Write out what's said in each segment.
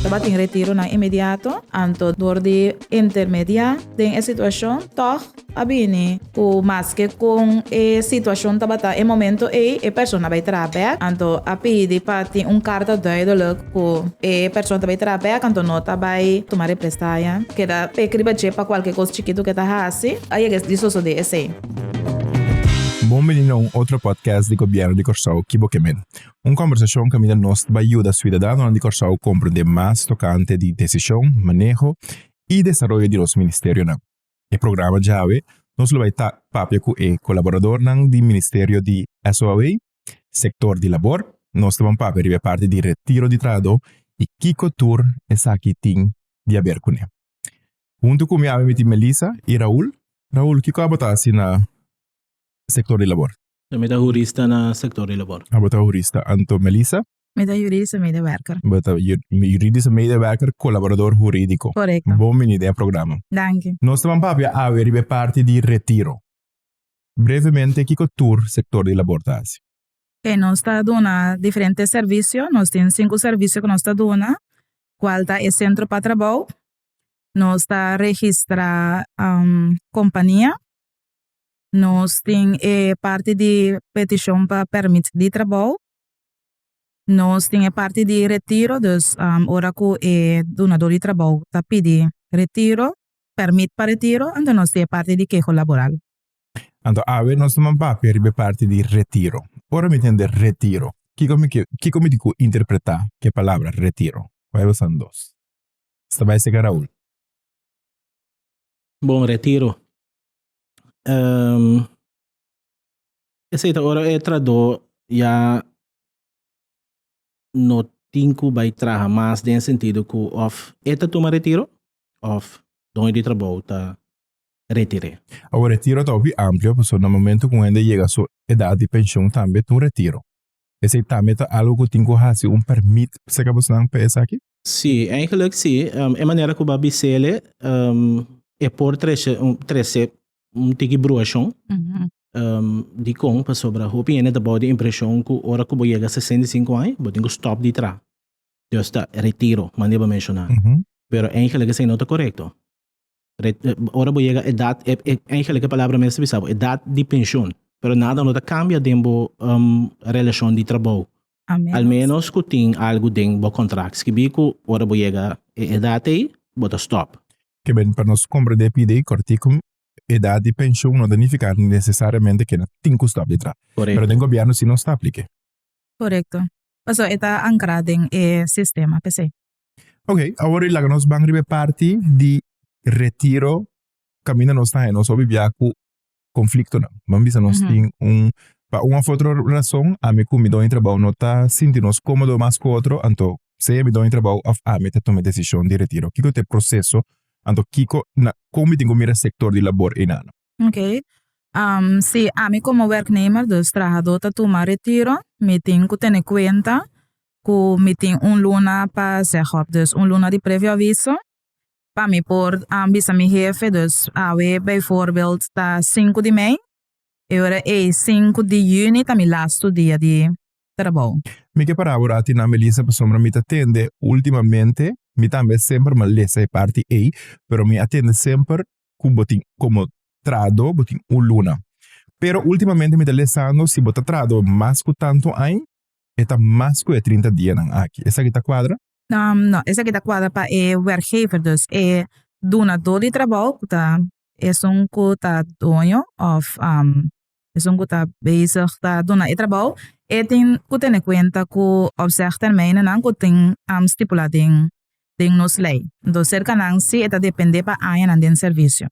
Tabatin retironan inmediato, anto dor di intermediá den e situacion tòg a bini cu maske con e situacion tabata e momento ei e persona bai traha bek, anto a pidi pa tin un carta duidelijk cu e persona ta bai traha bek anto no ta bai tuma represalia. Keda pekri riba dje pa cualke cos chikitu cu e ta haci a yega di sosode esei. Bon bini na un otro podcast di Gobierno di Corsou ki bo ke men. Un kombersashon kaminda nos bai yuda siudadanonan di Kòrsou komprendé mas tokante di desishon, maneho i desaroyo di nos ministerionan. E programa djawe nos lo bai ta papia ku e kolaboradornan di Ministerio di SOAW, Sektor di Labor. Nos ta bon papia riba e parti di retiro di trahadó i kiko tur esaki tin di haber kuné. Huntu ku mi ami mi tin Melissa i Raul. Raul, kiko abo ta hasi na Sektor di Labor? Mi ta hurista na sektor di labor. Abo ta hurista Anto Melissa. Mi ta yuridische medewerker. Bo ta yuridische medewerker, kolaborador huridiko. Korekto. Bon bini den e programa. Danki. Nos ta ban papia awe riba e parti di retiro. Brevemente kiko tur sektor di labor ta hasi? Oke, nos ta duna diferente servisio. Nos tin sinku servisio ku nos ta duna, kual ta e sentro pa trabou, nos ta registra kompania, Nos tin e parti di petishon pa pèrmit di trabou. Nos tin e parti di retiro, dus ora ku e dunadó di trabou ta pidi retiro, pèrmit pa retiro, anto nos tin e parti di keho laboral. Anto awe nos ta man papia riba e parti di retiro. Ora mi ta hende retiro, kiko mi ke, kiko mi tin ku interpretá ku e palabra retiro? Bai basando dos. Sta bai serka Raul. Bon retiro. esei ta ora e tradó ya no tin ku bai traha mas den e sentido ku òf e ta tuma retiro òf doño di trabou ta retir'é. Awor retiro ta hopi amplio pasobra na momentu ku un hende yega su edat di penshon tambe ta un retiro. Esei tambe ta algu ku tin ku hasi un pèrmit. P'esei ku a bisa nan pa esaki? Sí, eigenlijk sí. E manera ku bo a bisel e, e por trece trece un tiki bruashon di kon pasobra hopi hende ta bou di impreshon ku ora ku bo yega sesenta i sinku aña bo tin ku stòp di traha, dus ta retiro, mane bo menshoná. Pero eigenlijk esei no ta korekto. Ora bo yega edat, eigenlijk e palabra mester bisa bo edat di penshon, pero nada no ta kambia den bo relashon di trabou, al ménos ku tin algu den bo kontrakt skibí ku ora bo yega e edat ei bo ta stòp. Ke ben pa nos komprendé pidi kòrtiku, edat di penshon no ta nifiká nesesariamente ke nan tin ku stòp di traba, pero den gobièrnu si nos ta apliké. Korekto, pasobra e ta ankrá den e sistema p'esei. Ok, awor di laga nos ban riba e parti di retiro caminda nos ta nos obi bia cu conflictonan. Ban bisa nos tin un, pa un of otro rason ami cu mi doña trabou no ta sinti nos comodo mas cu otro anto sea mi doña trabou of ami ta tuma e decision di retiro. Kico ta e proceso anto kico na con mi tin cu mira e sector di labor enan. Ok, si ami como werknemer dus trahador ta tuma retiro mi tin cu tene cuenta cu mi tin un luna pa zeg op dus un luna di previo aviso pa mi por bisa mi hefe dus awe bijvoorbeeld ta sinku di mei y ora ey sinku di juni ta mi lastu dia di trabao. Mi ke para por atina Melissa pasobra mi ta tende ultimamente mi tambe semper malesa e parti ey pero mi a tende semper cu bo tin como trado bo tin un luna pero ultimamente mi ta lesando si bo ta trado mas cu tanto ain e ta mas ku e trinta dianan aki. Esaki ta kuadra? No, esaki ta kuadra pa e wèrkgever, dus e dunadó di trabou ku ta esun ku ta doño òf esun ku ta bezig ta duna e trabou, e tin ku tene kuenta ku opzèg tèrmeinennan ku tin stipulá den den nos lei. Entonces serka nan si e ta dependé pa añanan den servisio.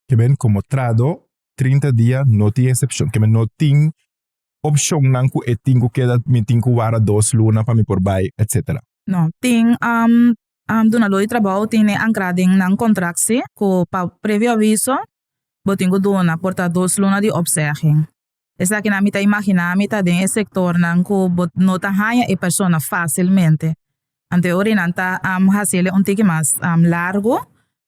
Ke men, komo trahadó, trinta dia no tin esepshon, ke men no tin opcionnan cu e tin cu keda, mi tin cu wara dos luna pa mi por bay, etc. No, tin dunador di trabao tin e ancra den nan contract si cu pa previo aviso bo tin cu duna por ta dos luna di opzegging. Esakinan mi ta imagina mi ta den e sectornan cu bo no ta haya e persona facilmente Ante ora e nan ta hasi el e un tiki mas largu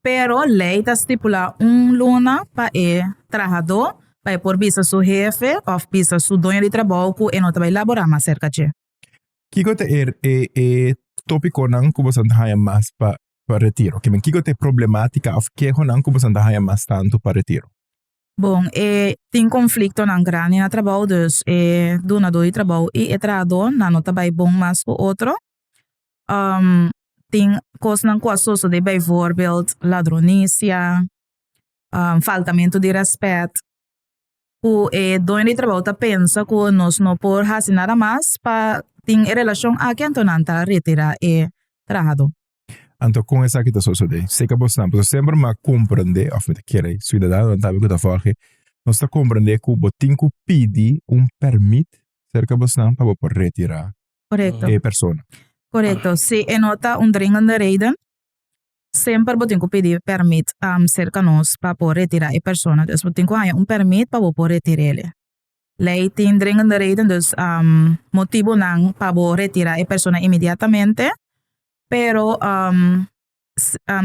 pero lei ta stipula un luna pa e trahadó pa e por bisa su hefe òf bisa su doño di trabou ku e no ta bai labora mas serka dje. Kiko ta e e tópikonan ku boso ta haña mas pa pa retiro? Kiko ta e problemátika òf kehonan ku boso ta haña mas tantu pa retiro? Bon, e tin konfliktonan grandi na trabou, dus e dunadó di trabou i e trahadónan no ta bai bon mas ku otro. Tin kosnan ku a sosodé, beivoorbeeld ladronisia, faltamentu di rèspèt, ku e doño di trabou ta pensa ku nos no por hasi nada mas pa tin e relashon aki anto nan ta retirá e trahadó. Anto kon esaki ta sosodé? Stica bo snap. Nos semper m'a comprendé of mi ta kere ciudadanonan tambe cu ta for aki, nos ta comprendé cu bo tin cu pidi un permit cerca bo snap pa bo por retira e persona. Correcto. Si e no ta un dringende reden, semper bo tin cu pidi permit cerca nos pa por retira e persona. Dus bo tin cu haña un permit pa bo por retir'e. Lei tin dringende reden, dus motibunan pa bo retira e persona inmediatamente. Pero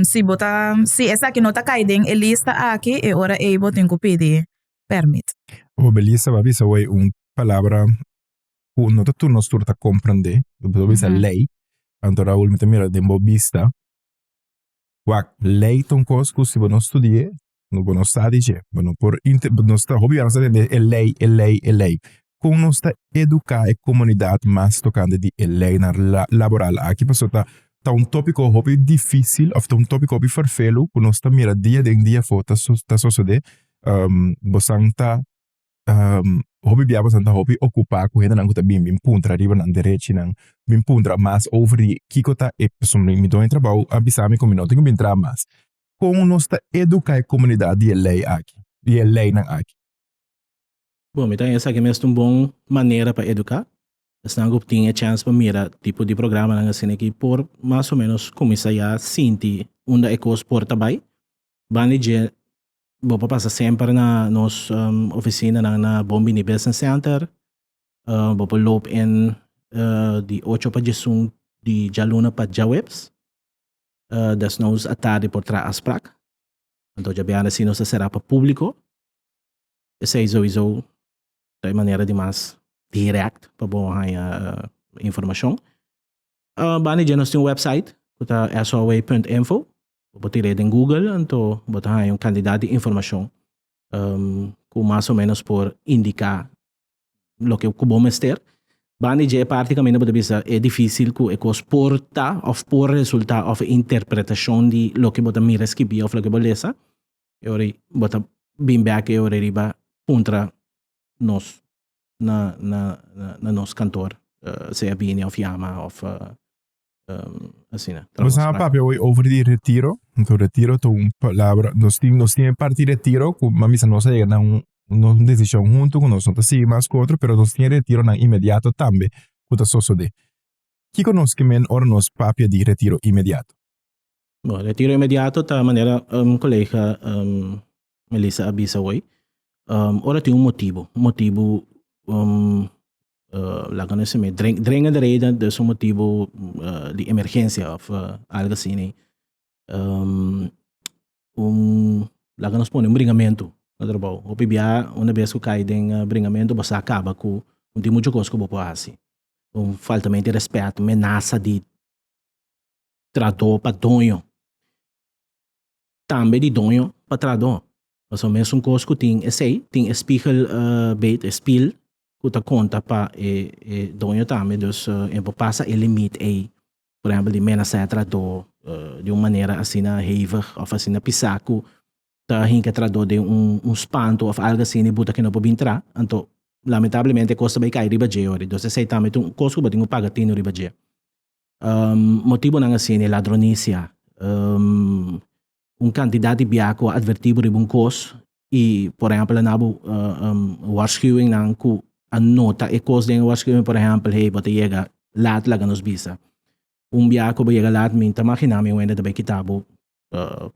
si bo ta si esaki no ta kai den e lista aki e ora ei bo tin ku pidi permit. Bo bai lista bo a bisa wei un palabra ku no ta tur nos tur ta komprende bo ta bisa lei anto awo mi ta mira den bo bista wak lei ta un kos ku si bo no studie no bo no sa di dje, bo no por inte, bo no sta, hopi bia no sta tende e lei, e lei, e lei. Kon nos ta eduká e komunidat mas tokante di e leinan laboral aki? Pasobra ta ta un tópiko hopi difísil òf ta un tópiko hopi ferfelu ku nos ta mira dia den dia afó ta ta sosodé. bosan ta hopi bia bosan ta hopi okupá ku hendenan ku ta bin bin puntra riba nan derechinan, bin puntra mas over di kiko ta e pasobra mi done di trabou a bisa mi ku mi no tin ku bin traha mas. kon nos ta eduká e komunidat di e lei aki, di e leinan aki. Bon, mi ta haña esaki mes ta un bon manera pa eduká. Esnan ku tin e chèns pa mira tipo di programanan asina aki por mas o ménos kuminsá ya sinti unda e kos por ta bai. Banda di dje bo por pasa semper na nos ofisinanan na Bon Bini Business Center. Bo por loop in di ocho pa djesun di djaluna pa djaweps. Desnos a tardi por traha aansprak. Anto djabian reci nos a cera pa publico. Esey sowiso ta e manera di mas direct pa bo hanja informacion. Banda dje nos tin un website cu ta SOW.info. Bo tira e den Google anto bo ta hanja un cantidad di informacion cu mas o menos por indica loke ku bo mester. Banda di dje e parti kaminda bo ta bisa e difísil ku e kos por ta òf por resultá òf e interpretashon di loke bo ta mira skibí òf loke bo lesa, e ora ei bo ta bin bèk e ora riba puntra nos na na na nos kantor, sea bini òf yama òf Um, asina. Nos a papia hoy over di retiro. Entonces, retiro to un palabra. Nos tiene, nos tiene parte retiro, cu mami sa nos llega un, un decisión junto con nos, no te sigue más con otro, pero nos tiene retiro nan inmediato tambe, cu ta sosode. Kiko nos que men or nos papia di retiro inmediato? Bo, retiro inmediato ta manera un colega um, Melissa a bisa awey, um, ora tin un motibu, un motibu um, uh, laga no se me, dring, dringa de reden, dus un motibu uh, di emergencia of uh, algo así, nee. Um, un, laga nos pone un bringamento, na trabou. Hopi bia, una vez ku kai den uh, bringamento, bo sa kaba ku, un tin mucho kos ku bo po hasi. Un faltamento di respeto, menasa di trado pa doño. Tambe di doño pa tradó. Pasobra mesun kos ku tin esei, tin e spigel beet, e spiel, ku ta konta pa e doño tambe. Dus e por pasa e limit ei, por ehèmpel di menasé tradó di un manera asina hevig òf asina pisá ku ta hinka tradó den un spantu òf algu asina ibuta ku e no por bin tra. Anto, lamentablemente e kos ta bai kai riba dje yori. Dus esei tambe ta un kos ku bo tin ku paga tinu riba dje. Motibunan a sini, ladronisia. Un kantidat di bia ku a advertí bo riba un kos i por ehèmpel a naba waarschuwingnan ku a nota e kos den e waarschuwing, por ehèmpel, hey bo ta yega lat laga nos bisa. Un bia ku bo yega lat mi ta maginá mi wende ta bai kita bo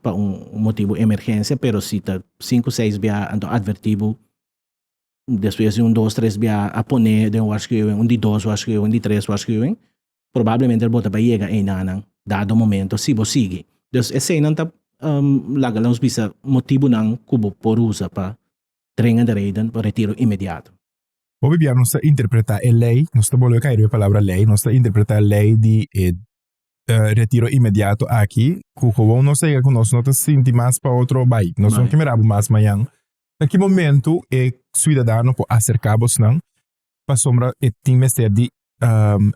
pa un motibu emergensia, pero si ta sinku seis bia anto a advertí bo. despues di un dos tres bia a pone den waarschuwing un di dos waarschuwing un di tres waarschuwing probablemente bo ta bai yega einanan dado momento si bo sigui dus eseinan ta laga nos bisa motibunan ku bo por usa pa dringende reden pa retiro inmediato. Hopi bia nos ta interpretá e lei nos ta bolbe kai riba e palabra lei nos ta interpretá e lei di e retiro inmediato aki ku gewoon nos ta yega ku nos no ta sinti mas pa otro bai nos no ta mira bo mas mañan Na ki momentu e suidadano por acerca bosnan pasobra e tin mester di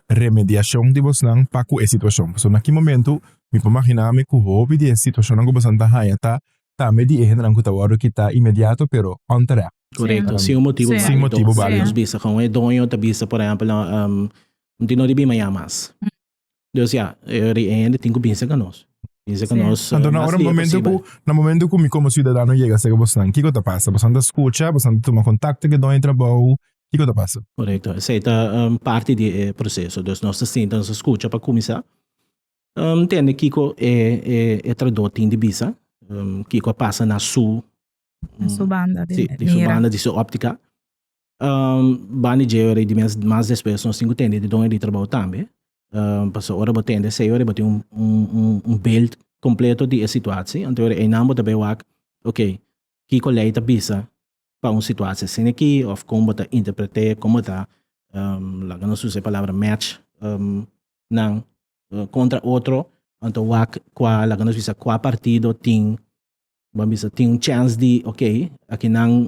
remediacion di bosnan pa cu e situacion. Pasobra na ki momentu mi por magina mi cu hopi di e situacionnan cu bosnan ta haña ta tambe di e hendenan cu ta wordo kita inmediato pero onterecht. Correcto, sin un motibo balido. Sin motibo balido. Nos bisa con e doño ta bisa por ehempel un tin no di bima ya mas. Dus ya, ri eende tin ku binse ka nos. Binse ka nos Anto na mas ora liga momento ku posibel. na momento ku mi komo siudadano yega sera bosnan kiko ta pasa? Bosan ta skucha? Bosan ta tuma kontakto ku e doño di trabou? Kiko ta pasa? Korekto, esei ta em, parti di e proseso. Dus nos ta sinta, nos ta skucha pa kuminsá. Em, Ntende kiko e e e tradó tin di bisa, em, kiko a pasa na su Na su banda di si, di su mira. banda, di su óptika. Bani dje ora i di mes mas despues nos tin ku tende di done di trabou tambe. Paso ora bo tende sei ora i bo tin un beeld kompleto di e situatsi, anto einan bo ta bay wak ok kiko lei ta bisa pa un situatsi asin aki of kon bo ta interpret'é, kon bo ta laga nos usa e palabra match nan kontra otro, anto wak kua laga nos bisa kua partido tin, bo a bisa tin un chèns di ok akinan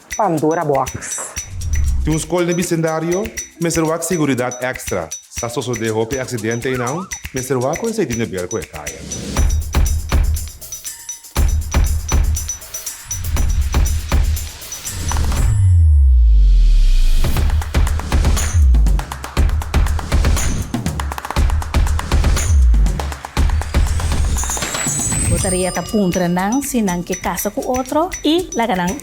Pandora Box. Tin un skol den bisendario, mester wak seguridat èkstra. Sa sosodé hopi aksidente einan, mester wak kuen seidí nebel ku e kaya. Bo ta rieta puntra nan si nan ke kasa ku otro i laga nan.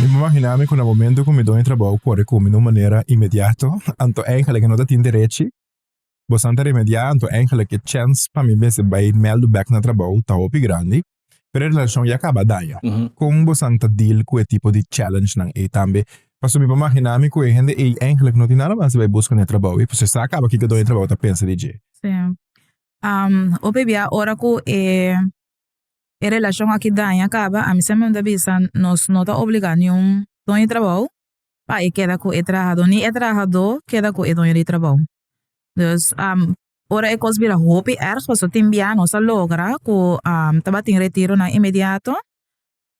Mi por mahinami cu na momento cu mi done trabou cu a recomi d'un manera inmediato, anto eigenlijk e no ta tin derechi. Bosan ta remedia, anto eigenlijk e chens pa mi mester bai mèldu bèk na trabou ta hopi grandi. Pero e relacion ya caba daña. Con bosan ta deal cu e tipo di challengenan ei tambe? Pasobra mi por mahinami cu e hende ei eigenlijk no tin nada mas di bai busca na e trabou ei, pasobra e sa caba kiko done trabou ta pensa di dje. hopi bia ora ku e e relashon aki daña kaba a mi siempre mi ta bisa nos no ta obliga niun doño di trabou pa e keda ku e trahado ni e trahado keda ku e doño di trabou dus ora e kos bira hopi erg pasobra tin bia nos ta logra ku tabatin retiro nan inmediato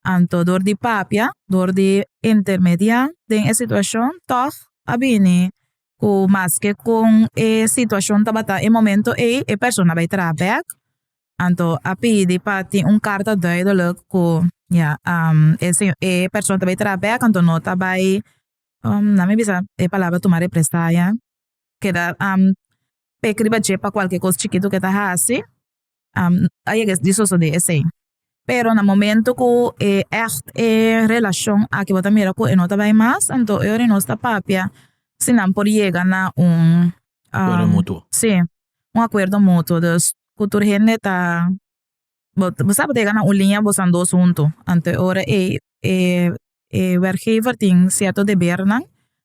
anto dor di papia dor di intermedia den e situacion tog a bini cu maske con e situacion tabata e momento ey e persona bay traha back anto a pidi pa tin un carta duidelick cu ya e persona ta bay traha back anto no ta bay nan mi bisa e palabra tuma represalia keda pek riba dje pa cualkier cos chikitu ke ta hasi. Um, a yega di sosode esei. Pero na momento ku e echt e relashon a ke bo ta mira ku e no ta bai mas, anto e ora nos ta papia si nan por yega na un Acuerdo um, mutuo. sí, un acuerdo mutuo. Dus ku tur hende ta bo bo sa bo ta yega na un linea bosan dos huntu, anto e ora ei e e werkgever tin sierto debernan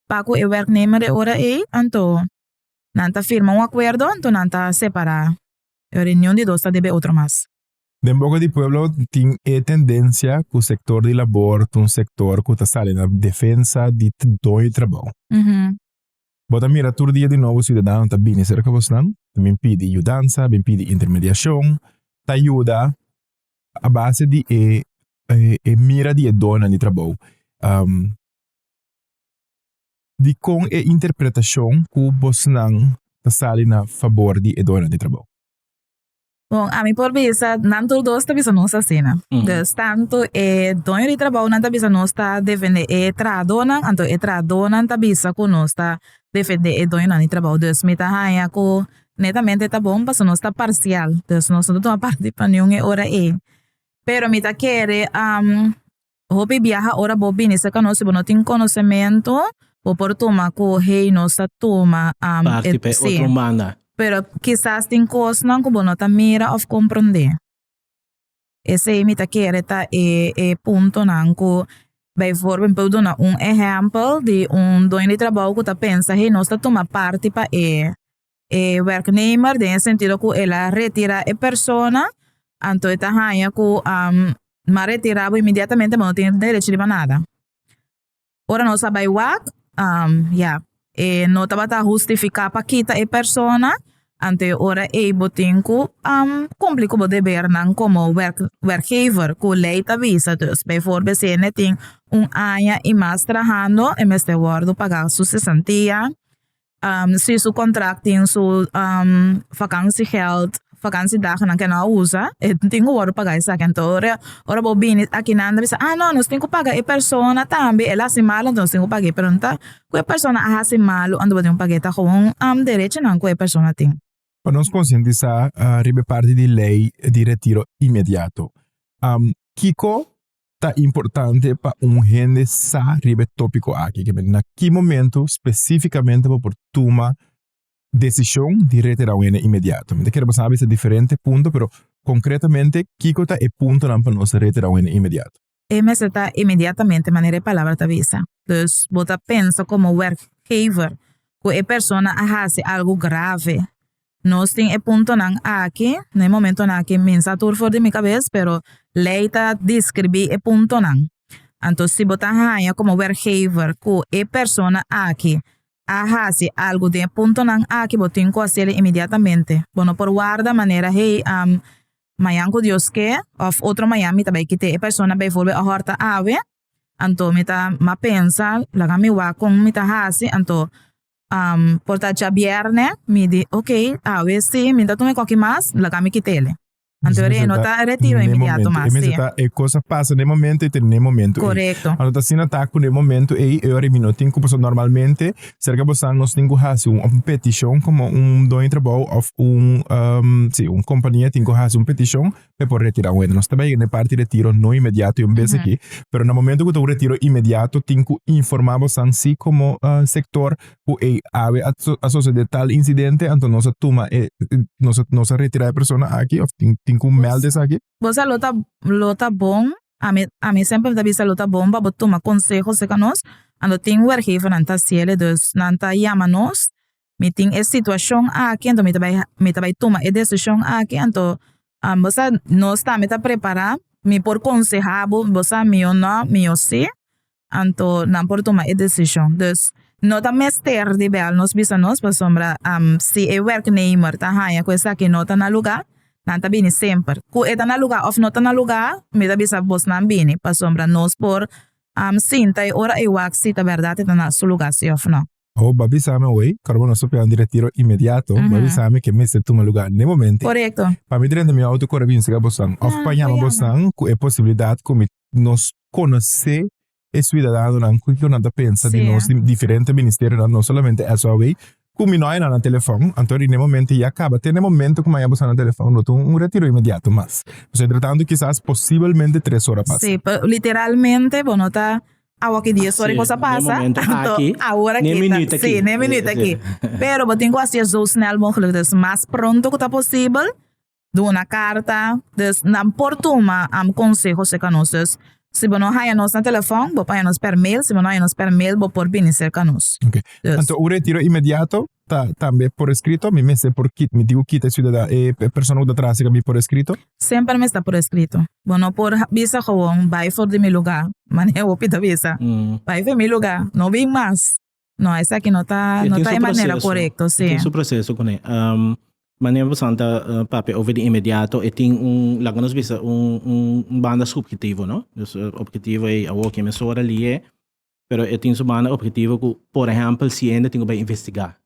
pa ku e werknemer e ora ei anto nan ta firma un acuerdo anto nan ta separa. E reunion di dos ta debe otro mas. Den boca di pueblo tin e tendencia cu sector di labor ta un sector cu ta sali na defensa di dony trabao. Bo ta mira tur dia di nobo ciudadano ta bini cerca bosnan, ta bin pidi yudansa, bin pidi intermediacion, ta yuda a base di e e mira di e doñonan di trabao. dikon e interpretashon ku bosnan ta sali na fabor di e doño di trabou? Bon, ami por bisa nan tur dos ta bisa nos asina. Dus tantu e doño di trabounan ta bisa nos ta defendé e trahadónan, anto e trahadónan ta bisa ku nos ta defendé e doñonan di trabou. Dus mi ta haña ku netamente ta bon pasobra nos ta parsial. Dus nos no ta tuma parti pa niun e ora ei. Pero mi ta kere Hopi biaha ora bo bini cerca nos si bo no tin conocemento bo por tuma cu hey nos ta tuma Parti pa e otro manda. Pero kisas tin cosnan cu bo no ta mira of comprende. Esey mi ta kere ta e e puntonan cu bijvoorbeeld mi por duna un ehempel di un doño di trabou cu ta pensa hey nos ta tuma parti pa e e werknemer den e sentido ku el a retira e persona anto e ta haña ku nan a retira bo inmediatamente bo no tin derecho riba nada ora nos a bai wak ya e no tabata hustifica pa kita e persona anto e ora ey bo tin ku kumpli ku bo debernan komo werk werkgever ku ley ta bisa dus biforbe si e tin un aña y mas trahando e mester wordo paga su sesantia si su kontrakt tin su vakansi gèld vakansi dagnan ke nan a usa e tin ku wòrdu pagá esaki anto ora ora bo bini akinan ta bisa a no nos tin ku paga e persona tambe el a hasi malo anto nos tin ku pag'é pero no ta ku e persona a hasi malo anto bo tin ku pag'é ta gewoon derechonan ku e persona tin. Pa nos konsientisá riba e parti di lei di retiro inmediato kiko ta importante pa un hende sa riba e topico aki, kebe na ki momento specificamente bo por tuma decision di retira un hende inmediato. Mi ta kere bo sabi esei diferente punto, pero concretamente kiko ta e puntonan pa nos retira un hende inmediato? E mester ta inmediatamente manera e palabra ta bisa. Dus bo ta pensa como werkgever cu e persona a haci algo grave Nos tin e puntonan aki. Na e momentonan aki mi sa tur for di mi kabes pero lei ta describi e puntonan. Anto si bo ta haña como werkgever cu e persona aki a haci algo den e puntonan aki bo tin cu haciel inmediatamente. Bo no por warda manera hey mañan cu Dios ke of otro mañan mi ta bay kite e persona bijvoorbeeld a horta awe anto mi ta ma pensa laga mi wak con mi ta haci anto por ta djabièrnè mi di ok awe si mi ta tuma e koki mas laga mi kit'e anto e no ta retiro inmediato mas si. E cosa pasa n'e momento y ta n'e momento ey. Correcto. Cuando ta asina ta cu n'e momento ey e ora y mi no tin cu paso normalmente cerca bosa nos tin cu haci un of un peticion como un doño trabao of un si un compania tin cu haci un peticion e por retira un hende. Nos ta bai na e parti retiro no inmediato un bes aki, pero na momento ku ta un retiro inmediato tin ku informá bosan si komo sektor ku ei awe a sosodé tal insidente anto nos a tuma e nos a nos a retirá e persona aki òf tin tin ku mèld esaki. Bo sa lo ta lo ta bon, ami ami semper ta bisa lo ta bon pa bo tuma konseho aserka nos anto tin wèrkgevernan ta siele, dus nan ta yama nos mi tin e situacion aki anto mi ta bai mi ta bai tuma e decision aki anto bo sa no sta mi ta prepara mi por conseha bo bo sa mi yo no mi yo si anto nan por tuma e decision dus no ta mester di bel nos bisa nos pasobra si e werknemer ta haña ku esaki no ta na lugar nan ta bini semper ku e ta na lugar of no ta na lugar mi ta bisa bos nan bini pasobra nos por sinta e ora e wak si ta berdad e ta na su lugar si of no. Oh, ba bisa mi awey, kor bo no sopia un diretido inmediato, ba bisa mi ke mester tuma luga n'e momento. Korekto. Pa mi drenta mi outo kore binse ka bosnan, of pa yama bosnan ku e posibilidat ku mi nos konosé e suidadanonan ku kiko nan ta pensa di nos, di diferente ministerionan, no solamente eso awey, ku mi no hay nan na telefòn, anto di n'e momento ya kaba, te n'e momento ku mi a yama bosnan na telefòn lo tin un retiro inmediato mas. Pues entretanto kisas posibelmente tres ora pasa. Sí, pa literalmente bo no ta Awa ki dia sorry cosa pasa anto awor aki ta si ni e minuut aki pero bo tin cu haci e zo snel mogelijk dus mas pronto cu ta posibel duna carta dus nan por tuma am conseho cerca nos dus si bo no haya nos na telefon bo por haya nos per mail si bo no haya nos per mail bo por bini cerca nos. Anto un retiro inmediato Ta tambe por escrito? Mi mester por ki-, mi tin cu kita e ciudada-, e persona cu ta trahasi ca mi por escrito? Semper mester por escrito. Bo no por bisa gewoon, Bai for di mi luga, manera hopi ta bisa. Bai for di mi luga, no bin mas. No, esaki no ta, no ta e manera corecto, si. E tin su proceso cun'e. Manera bo san ta papia over di inmediato, e tin un, laga nos bisa, un banda subjetivo, no? Dus e objetivo ei, awo, ken mesora li'e. pero e tin su banda objetivo ku por ehempel si hende tin ku bai investigá.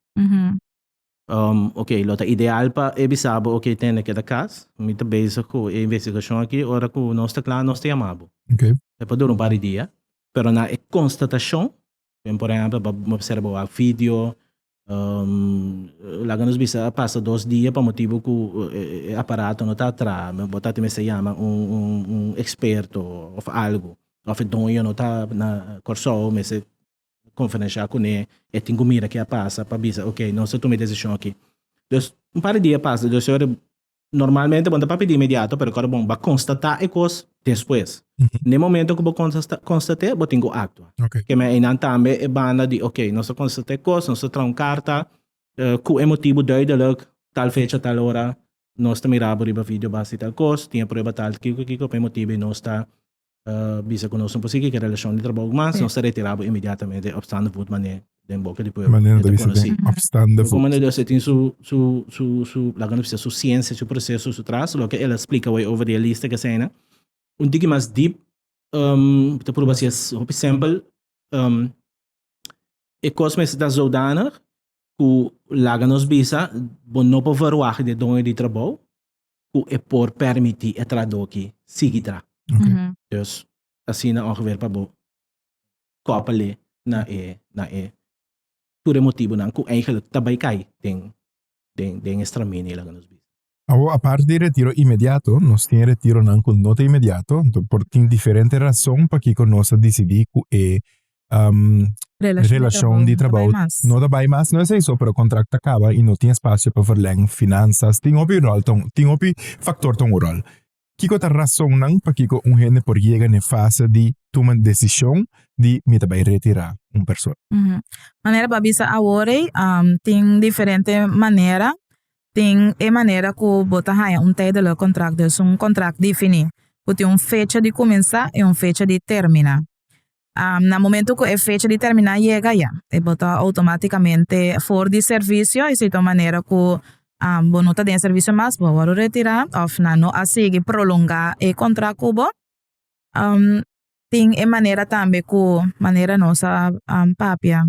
Um, ok, lo ta ideal pa e bisa bo, ok, tende keda kas, mi ta bezig ku e investigashon aki, ora ku nos ta kla, nos ta yama bo. Okay. E por dura un par di dia, pero na e konstatashon, den por ehempel, bo obserba wak video, Laga nos bisa a pasa dos dia pa motibu ku e aparato no ta a traha. Bo ta mester yama un eksperto òf algu. Òf e doño no ta na Kòrsou, mester konferenshá kuné, e tin ku mira ke a pasa pa bisa, okey, nos ta tuma e desishon akí. Pues, un par di dia a pasa, despues ora Normalmente bon ta pa pidi inmediato, pero kor bon ba konstatá e kos despues. Na e momento ku bo konstat'é, bo tin ku aktua. Okay. Keme einan tambe e banda di ok, nos ta konstat'é e kos, nos ta traha un karta ku e motibu duideluk, tal fecha, tal ora, nos ta mirabo riba video bas di tal kos, tin e prueba tal, kiko kiko, pa e motibu ei nos ta bisa ku nos no por sigui ke relashon di trabou mas, nos ta retirá bo inmediatamente opstaande voet manera den boka di pueblo e ta konosí. Bo kon manera Dios e tin su su su laga nos bisa su siensia, su proseso, su tras loke el a splika wei over di e lista ke asaina un tiki mas dip bo ta pruba si es hopi sempel e kos mester ta zoudanig ku laga nos bisa bo no por verwacht di e doño di trabou ku e por pèrmití e tradoki sigui dra. Dus asina ongever pa bo kòpele na e na e tur e motibunan ku eigelik ta bai kai den den den e stramini laga nos bisa. Awor aparte di retiro inmediato nos tin retironan ku no ta inmediato, anto por tin diferente rason pakiko nos a disidí ku e um, relacion di trabou no ta bai mas, no es eso, pero contract ta caba y no tin espacio pa verleng, finanzas, tin hopi rol, tin hopi factor ton un rol. Kiko ta razonnan pa kiko un hende por yega ne fase di tuma decision di mi ta bai retira un persona? Mm -hmm. Manera pa bisa awore, um, tin diferente manera, tin e manera ku bo ta haya un tijdelijk contract, dus un contract defini, ku tin un fecha di kuminsá e un fecha di termina. Na momento cu e fecha di termina yega ya, e bo ta automaticamente for di servicio y si ta un manera cu bo no ta den e servicio mas bo a worde retira of nan no a sigui prolonga e contract cu bo. Tin e manera tambe cu manera nos a papia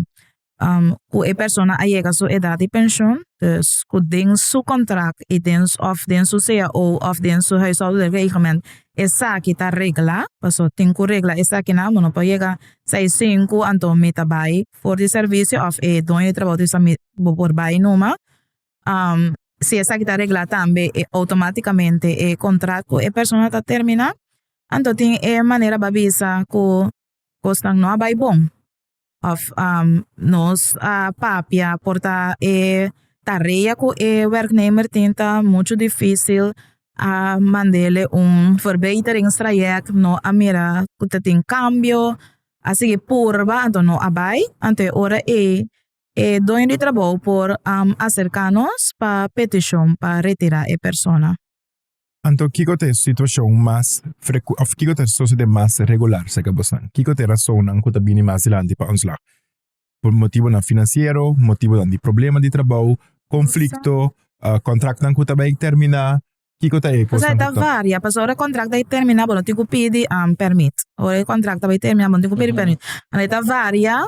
cu e persona a yega su edad di pensioen dus cu den su contract y den of den su cao of den su huishoudelijk reglement esaki ta regla pasobra tin cu regla esaki nan bo no por yega sai y sinku anto mi ta bay for di servicio of e doño di trabajo ta bisa mi bo por bay numa si esaki ta regla tambe e automaticamente e contract cu e persona ta termina anto tin e manera bay bisa cu cosnan no a bay bon. Of nos a papia por ta e tarea cu e werknemer tin ta mucho dificil a mandele un verbeteringstraject no a mira cu ta tin cambio a sigui purba anto no a bay anto e ora ey e doño di trabou por acerca nos pa peticion pa retira e persona. Anto kiko ta e situashon mas freku òf kiko ta sosodé mas regular serka bosan? Kiko ta e rasonnan ku ta bini mas dilanti pa ontslag? Por motibonan finansiero, motibonan di problema di trabou, konflikto, kontraknan ku ta bai terminá, kiko ta e kosnan ku ta. Varia, pasobra ora e kontrakt bai terminá bo no tin ku pidi pèrmit. Ora e kontrakt ta bai terminá bo no tin ku pidi pèrmit. E ta varia,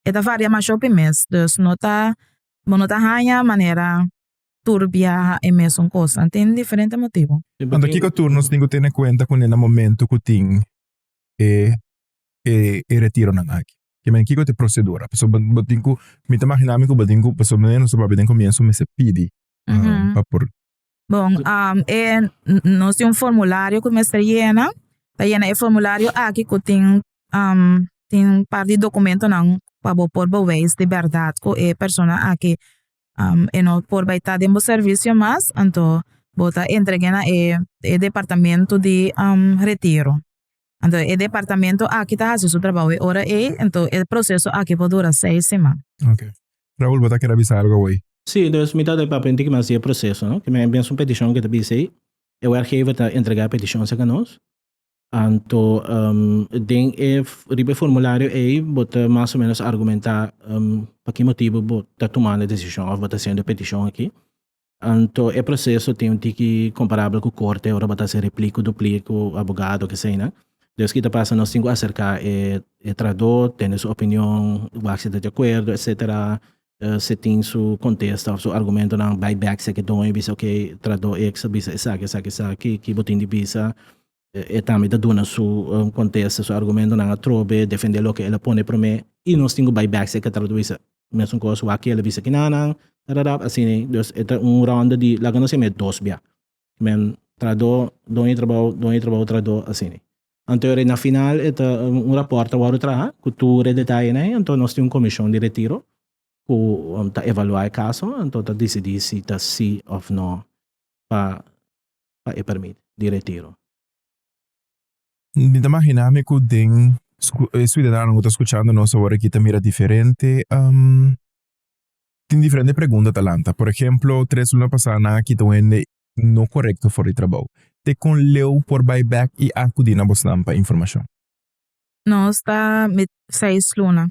e ta varia masho pi mes. Dus no ta bo no ta haña manera. tur biaha e mesun kos. Nan tin diferente motibu. Anto kiko tur nos tin ku tene kuenta ku nena momentu ku tin e e retironan aki? Kimen kiko ta e prosedura? Paso bo tin ku mi ta imaginá mi ku bo tin ku paso manera nos ta papia den komienso mester pidi pa por. Bon e nos tin un formulario ku mester yena ta yena e formulario aki ku tin tin par di dokumentonan pa bo por beweis di bèrdat ku e persona aki e no por bai ta den bo servicio mas anto bo ta entregue na e e departamento di retiro anto e departamento aki ta haci su trabajo e ora ey anto e proceso aki por dura seis siman. Okay. Raul bo ta kere a bisa algo awey? Sí, dus mi ta de papel di kiman a siña e proceso, no? Kiman e binsha un peticion ke ta bisa ey, e werkgever ta entrega e peticion sa ka nos. Anto den e riba e formulario ei bo ta mas o menos argumenta pa ki motibu bo ta tumando e desishon of bo ta hasiendo e petishon aki. Anto e proseso tin un tiki komparabel ku korte ora bo ta hasi repli ku dupli ku abogado o keseinan. Des ki ta pasa nos tin ku aserká e tradó, tende su opinion, wak si ta di akuerdo, etsetera, se tin su contesta of su argumentonan bay back seki don y bisa okay tradó ex a bisa esaki esaki esaki ki bo tin di bisa e tambe ta duna su contesta su argumentonan atrobe defende loke el a pone prome y nos tin cu bay back seki tradó bisa mesun cos wak ki el a bisa kinanan tarara asina y dus e ta un ronda di laga nos yama e dos bia Men trado don e trabao don e trabao trado asini. Anto na final e ta un rapport ta wòrdu traha ku tur e detayenan ei anto nos tin un komishon di retiro ku ta evaluá e kaso anto ta disidí si ta si òf no pa pa e permit di retiro. Mi ta imaginá mi ku den e siudadano ku ta skuchando nos awor aki ta mira diferente. Tin diferente pregunta ta lanta. Por ehemplo, tres luna pasá nan a kita un hende no korekto for di trabou. Te kon Leo por bai bek i akudí na bosnan pa informashon? Nos ta mit seis luna.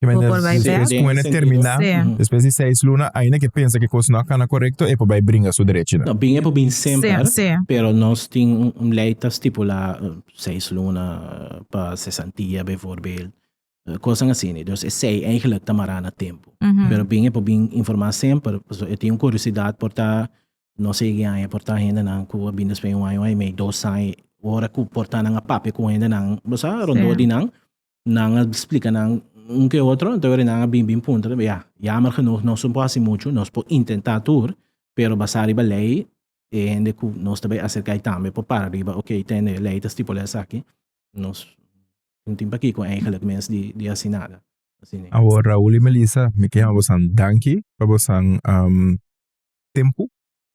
Bo Kimente por bai despues bek? ku un hende terminá, Sí. despues di seis luna, ainda ke pensa ke kos no a kana korekto, e por bai bringa su derechinan? No, bin e por bin Sí, semper, sí. pero nos tin un lei ta stipulá seis luna pa sesantia, bijvoorbeeld. Eh, Kosan asini. Dus e sei eigenlijk ta mará na tempu. Pero bin e por bin informá semper. Paso e tin un kuriosidad por ta, no sé ki aña, por ta hendenan ku a bin despues di un aña, un aña i mei, dos aña. Ora ku por ta nan a papia ku hendenan, bo sa, rondó di nan, nan a splika nan un ku e otro, entonces ora nan a bin, bin puntra, ta be, ya, jammer genoeg, nos no por hasi muchu, nos por intentá tur, pero basá riba lei, e hende ku nos ta bai aserká ei tambe por para riba oke tende e lei ta stipulá esaki nos tin tin pakiko eigenlijk mes di di hasi nada. Awor Raul i Melissa mi ke haba bosan danki pa bosan tempu,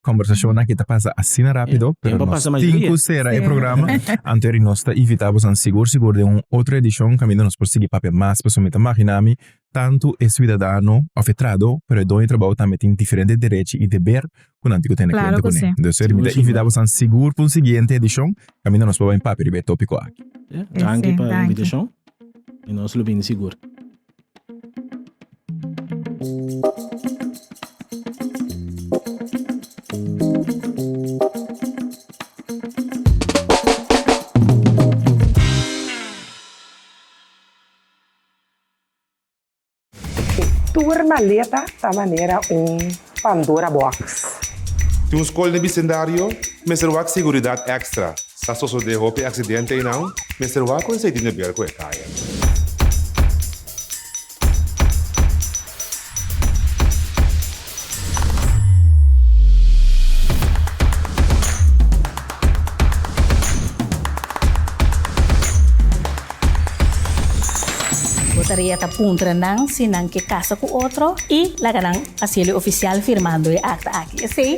kombersashon aki ta pasa asina rápido pero nos tin ku sera e programa antoeri nos ta invitá bosan sigur sigur den un otro edishon kaminda nos por sigui papia mas pasobra mi ta maginá mi Tantu e suidadano òf e trahadó, pero e doño trabou tambe tin diferente derechi i deber ku nan tin ku tene kuenta kuné. Entonces mi ta invitá bosan sigur pa un siguiente edishon kaminda nos por bai papia riba e tópiko aki. Danki pa invitashon i nos lo bini sigur. Tur maleta ta manera un Pandora box. Tin un skol den bisendario, mester wak seguridat ekstra, sa sosode hopi aksidente einan, mester wak ku esei di neber ku e kaya. Bo ta ria ta puntra nan si nan ke kasa ku otro i laga nan hasié lo ofisial firmando e akta aki. Esei